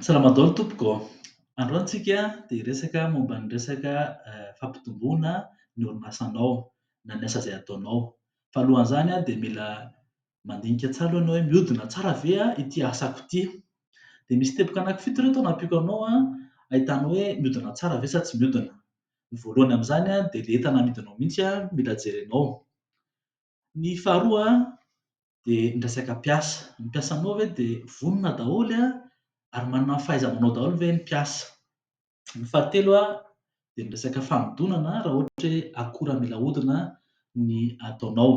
Salama daholo tompoko ô! Androany isika dia hiresaka momba ny resaka fampitomboana ny orinasanao na ny asa izay ataonao. Fa alohan'izany dia mila mandinika tsara aloha ianao hoe mihodina tsara ve ity asako ity. Dia misy teboka anankifito ireto nampiako anao ahitana hoe mihodina tsara ve sa tsy mihodina. Ny voalohany amin'izany dia ilay entana amidinao mihitsy mila jerenao. Ny faharoa dia ny resaka mpiasa. Ny mpiasanao ve dia vonona daholo ary manana ny fahaiza-manao daholo ve ny mpiasa? Ny fahatelo dia ny resaka fanodinana raha ohatra hoe akora mila ahodina ny ataonao.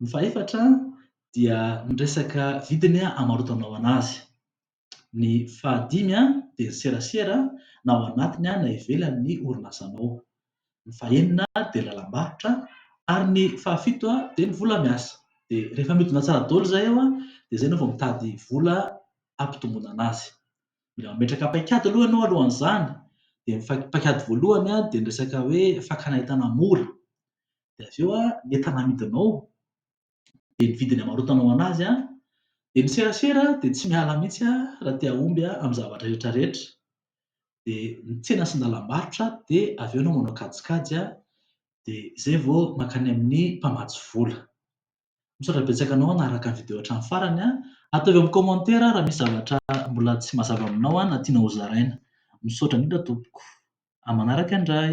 Ny fahefatra dia ny resaka vidiny hamarotanao an'azy. Ny fahadimy dia ny serasera na ao anatiny na ivelan'ny orinasanao. Ny fahenina dia ny lalam-barotra ary ny fahafito dia ny vola miasa. Dia rehefa mihodina tsara daholo izay eo dia izay enao vao mitady vola hampitomboana anazy. Mila mametraka paikady aloha enao alohan'izany dia ny paikady voalohany dia ny resaka hoe fakana entana mora dia avy eo ny entana amidinao dia ny vidiny amarotana ho an'azy an! dia ny serasera dia tsy miala mihitsy an! raha te hahomby an! amin'ny zavatra rehetra rehetra dia ny tsena sy ny lalam-barotra dia avy eo ianao manao kajikajy an! dia izay vao mankany amin'ny mpamatsy vola. Misaotra betsaka anao hanaraka ny video hatramin'ny farany an! ataovy amin'ny commentaire raha misy zavatra mbola tsy mazava aminao an! na tianao ho zaraina. Misaotra indrindra tompoko. Amin'ny manaraka indray.